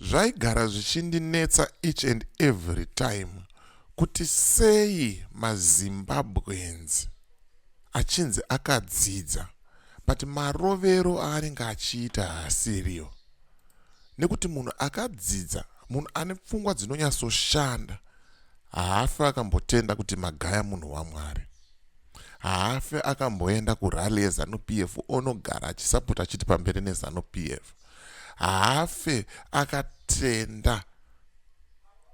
zvaigara zvichindinetsa each and every time kuti sei mazimbabwenzi achinzi akadzidza but marovero aanenge achiita haasiriyo nekuti munhu akadzidza munhu ane pfungwa dzinonyatsoshanda haafi akambotenda kuti magaya munhu wamwari haafe akamboenda kurally yezanu p f onogara achisapota achiti pamberi nezanu p f haafe akatenda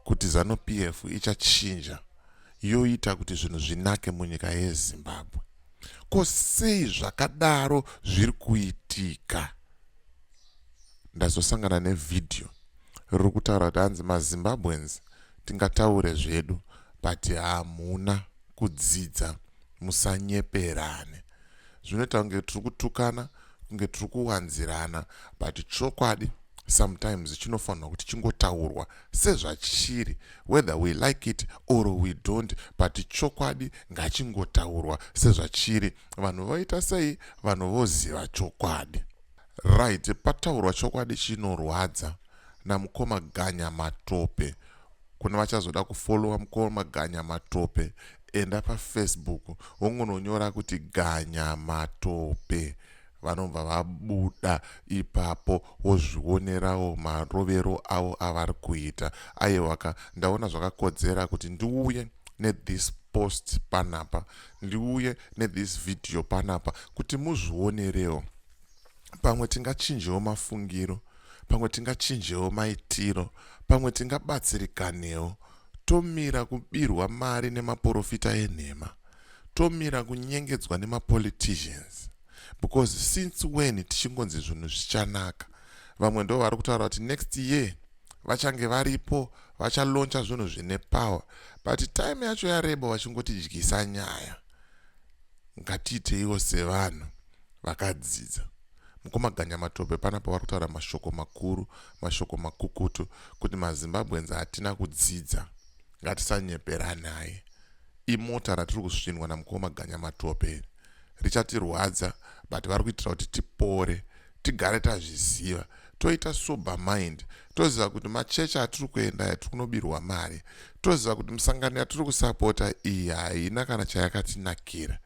kuti zanu p f ichachinja yoita kuti zvinhu zvinake munyika yezimbabwe ko sei zvakadaro zviri kuitika ndazosangana nevhidhiyo riri kutaura kuti hanzi mazimbabweans tingataure zvedu but hamuna kudzidza musanyeperane zvinoita kunge tiri kutukana kunge tiri kuwanzirana but chokwadi sometimes chinofanirwa kuti chingotaurwa sezvachiri whether we like it or we don't but chokwadi ngachingotaurwa sezvachiri vanhu voita sei vanhu voziva chokwadi right pataurwa chokwadi chinorwadza namukoma ganya matope Kune vachazoda kufollowa mkoma Ganya Matope enda pafacebook wongononyora kuti Ganya Matope vanobva vabuda ipapo wozvionerawo marovero avo avari kuita aiwaka ndaona zvakakodzera kuti ndiuye nethis post panapa ndiuye nethis video panapa kuti muzvionerewo pamwe tingachinjewo mafungiro pamwe tingachinjewo maitiro, pamwe tingabatsirikanewo tomira kubirwa mari nemaporofita enhema, tomira kunyengedzwa nemapoliticians because since when tichingonzi zvinhu zvichanaka vamwe ndo vari kutaura kuti next year vachange varipo vachaloncha zvinhu zvine power but time yacho yareba vachingotidyisa nyaya ngatiiteiwo sevanhu vakadzidza Mukoma Ganyamatope panapa vari kutaura mashoko makuru, mashoko makukutu kuti maZimbabweans hatina kudzidza. Ngatisanyeperanai. Imota ratiri kusvinwa namukoma Ganyamatope iri. Richatirwadza but vari kuitira kuti tipore, tigare tazviziva, toita sober mind, toziva kuti machechi atiri kuenda aya tiri kunobirwa mari, toziva kuti misangano yatiri kusapota iyi haina kana chayakatinakira.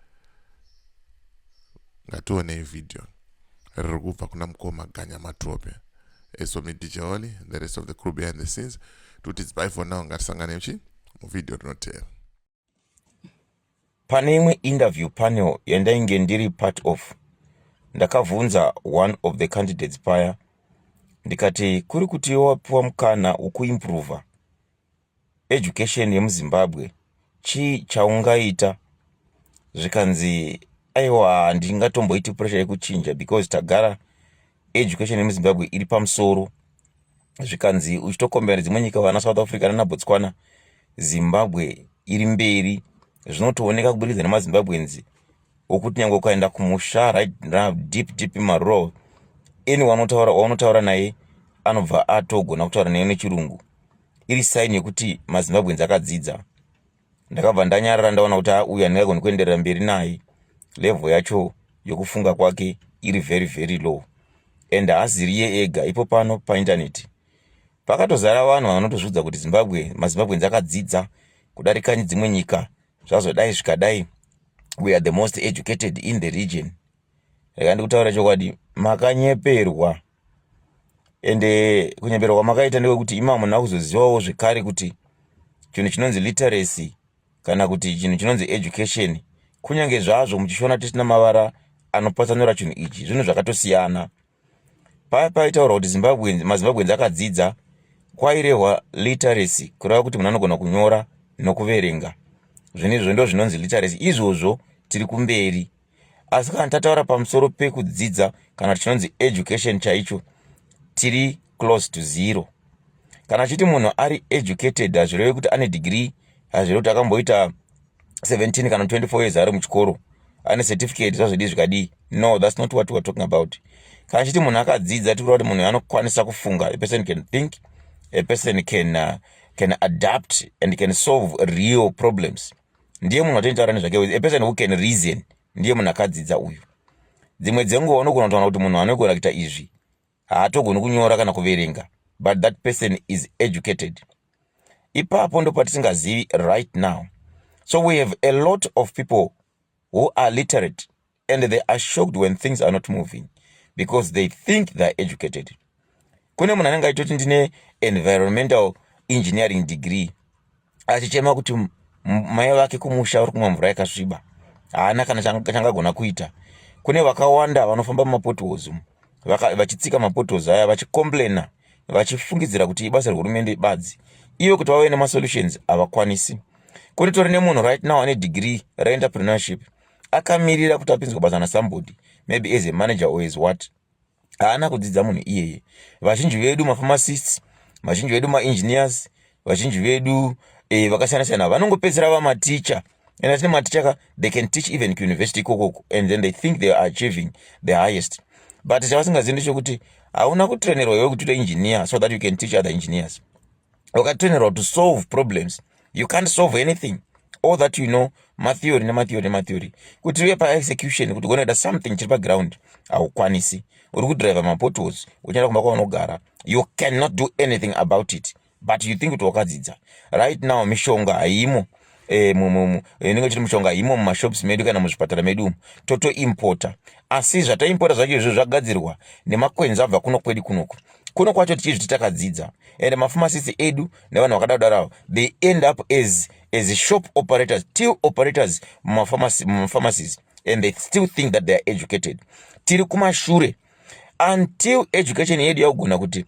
ngationei video riri kubva kuna mukoma ganya matope eso midijoli the rest of the crew behind the scenes tuti dzibai for now ngatisangane uchi muvideo rinoteera pane imwe interview panel yandainge ndiri part of ndakavhunza one of the candidates paya ndikati kuri kuti wapiwa mukana ukuimprova education yemuzimbabwe chii chaungaita zvikanzi aiwa handingatomboiti pressure yekuchinja because tagara education yemuzimbabwe iri pamusoro zvikanzi uchitokombera dzimwe nyika vana south africa nana botswana zimbabwe iri mberi zvinotooneka kuburikidza nemazimbabweans wokuti nyange ukaenda kumusha right now deep deep marow anyone otaura waunotaura naye anobva atogona kutaura naye nechirungu iri saini yekuti mazimbabweans akadzidza ndakabva ndanyarara ndaona kuti auyu handingagoni kuenderera mberi naye level yacho yokufunga kwake iri very very low and haasiriye ega ipo pano paintaneti pakatozara vanhu vanotozviudza kuti zimbabwe mazimbabweans akadzidza kudarikani dzimwe nyika zvazodai zvikadai we are the most educated in the region rega ndikutaura chokwadi makanyeperwa ende kunyepera kwamakaita ndewekuti imama muna kuzozivawo zvekare kuti chinhu chinonzi literacy kana kuti chinhu chinonzi education kunyange zvazvo muchishona tisina mavara anopatsanura chinhu ichi zvinhu zvakatosiyana paya paitaurwa kuti zimbabwens mazimbabwens akadzidza kwairehwa literacy kureva kuti munhu anogona kunyora nokuverenga zvinezvo ndo zvinonzi literacy izvozvo tiri kumberi asi kana tataura pamusoro pekudzidza kana tichinonzi education chaicho tiri close to zero kana chiti munhu ari educated hazvireve kuti ane degree hazvireve kuti akamboita 17 kana 24 years ari muchikoro ane certificate zvazvidi zvikadii no thats not what weare talking about kana chiti munhu akadzidza tikuda kuti munhu anokwanisa kufunga a person can think a person can, uh, can adapt and can solve real problems ndiye munhu atonitaura nezvake with a person who can reason ndiye munhu akadzidza uyu dzimwe dzenguva unogona kutaura kuti munhu anogona kuita izvi haatogoni kunyora kana kuverenga but that person is educated ipapo ndopatisingazivi right now so we have a lot of people who are literate and they are shocked when things are not moving because they think theyare educated kune munhu anenge aitoti ndine environmental engineering degree achichema kuti mai vake kumusha uri kumwa mvura yakasviba haana kana changagona kuita kune vakawanda vanofamba mumapotholes vachitsika mapotholes aya vachicomplaina vachifungidzira kuti ibasa rehurumende badzi ivo kuti vave nemasolutions havakwanisi kune tori nemunhu right now ane degree reenterpreneurship akamirira kuti apinzwa basa na somebody maybe as a manager or as what haana kudzidza munhu iyeye vazhinji vedu mapharmacists vazhinji vedu maengineers vazhinji vedu eh, vakasiyana siyana vanongopedzera vamaticha and atine maticha ka they can teach even kuuniversity ikokoko and then they think they are achieving the highest but chavasingazivi ndechekuti hauna kutrenerwa iwe kuti ute engineer so that you can teach other engineers wakatonerwa to solve problems you can't solve anything all that you know matheory nematheory nematheory kuti uye paexecution kuti ugone kuita something chiri paground haukwanisi uri kudriver mapotos uchienda kumba kwaunogara you cannot do anything about it but you think kuti wakadzidza right now mishonga haimo eh, inenge ichiti mushonga imo mumashops medu kana muzvipatara medu umu totoimpota asi zvataimpota zvacho izvo zvagadzirwa nemakwenzi abva kuno kwedu kunoku kuno kwacho tichizviti takadzidza and mafamasisti edu nevanhu vakada kudaro avo they end up as, as shop operators till operators mumafamasies and they still think that they are educated tiri kumashure until education yedu yakugona kuti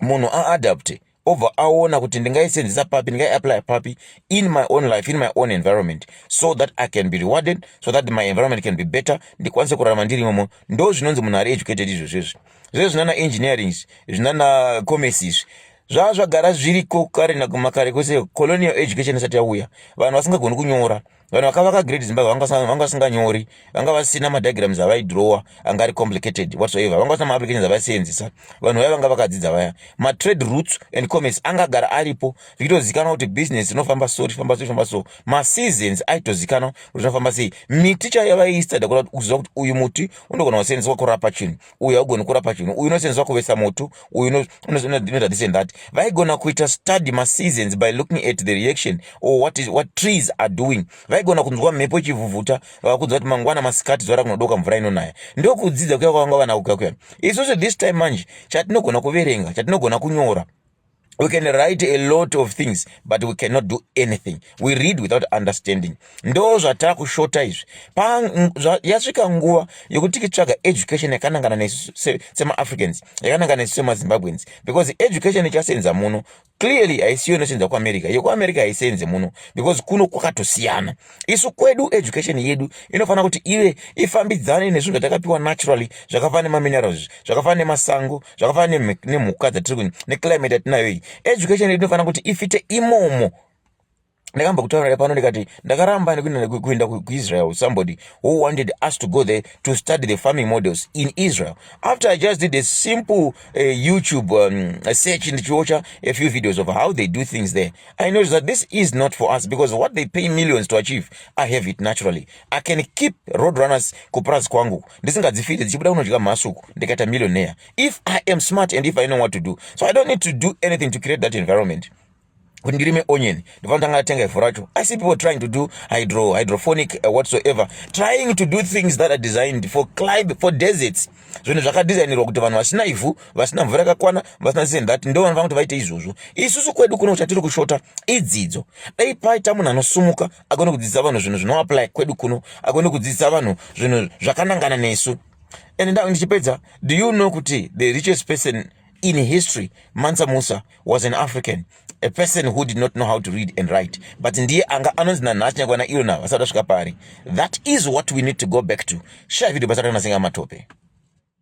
munhu aadapte obva aona kuti ndingaisenzesa papi ndingaiapply papi in my own life in my own environment so that i can be rewarded so that my environment can be better ndikwanise kurarama ndiri imomo ndo zvinonzi munhu ari educated izvo zvezvi zvezvi zvinana engineering zvinana commerce izvi zvava zvagara zviriko kare nakumakare kwese colonial education isati yauya vanhu vasingagoni kunyora vanhu vakavaka great zimbabwe vanga vasinganyori vanga vasina madigrams avaidrowa anga ari complicated whatsoever vanga vasina maapplications avaisenzisa vanhu vaya vanga vakadzidza vaya matrade roots and commerce angagara aripo zvichitozikanwa kuti business inofamba so richifamba so richifamba so maseasons aitozikanwa kuti zvinofamba sei miti chaiyo vaiistida kuziva kuti uyu muti unogona kusenzeswa kurapa chinhu uyu haugoni kurapa chinhu uyu unosenzeswa kuvesa moto uyu unoita this and that vaigona kuita study maseasons by looking at the reaction or what, is, what trees are doing vaigona kunzwa mhepo ichivhuvhuta vakunzwa kuti mangwana masikati zuva rakunodoka mvura inonaya ndokudzidza kuya kwavanga vana kuya kuya isusu this time manje chatinogona kuverenga chatinogona kunyora we can write a lot of things but we cannot do anything we read without understanding ndo zvatava kushota izvi yasvika nguva yekuti tikitsvaga education yakanangana nesu semaafricans yakanangana nesu semazimbabweans because education ichasenza muno clearly haisiyo inosenza kuamerica yekuamerica haisenze muno because kuno kwakatosiyana isu kwedu education yedu inofanira kuti ive ifambidzane nezvinhu zvatakapiwa naturally zvakafanana nemaminerals izvi zvakafanana nemasango zvakafanana nemhuka dzatiri kuni neclimate yatinayo iyi education yedu inofanira kuti ifite imomo ndakamba kutaurira pano ndikati ndakaramba nekuenda kuisrael somebody who wanted us to go there to study the farming models in israel after i just did a simple uh, youtube um, search ndichiocha a few videos of how they do things there I notice that this is not for us because what they pay millions to achieve, I have it naturally. I can keep road runners kupurazi kwangu ndisingadzifite dzichibuda kunodya mhasuku ndikaita millionaire if I am smart and if I know what to do. So I don't need to do anything to create that environment kuti ndirime onion ndifana tanga atenga ivhu racho i see people trying to do hydro hydrophonic uh, whatsoever trying to do things that are designed for climb for deserts zvinhu zvakadesignirwa kuti vanhu vasina ivhu vasina mvura yakakwana vasina this and that ndo vanofanira kuti vaite izvozvo isusu kwedu kuno chatiri kushota idzidzo dai paita munhu anosumuka agone kudzidzisa vanhu zvinhu zvinoapply kwedu kuno agone kudzidzisa vanhu zvinhu zvakanangana nesu and ndichipedza do you know kuti the richest person in history mansa musa was an african a person who did not know how to read and write but ndiye anga anonzi nanhasi nyangwe ana irona vasati vasvika paari that is what we need to go back to shaya video basa rakanasengama tope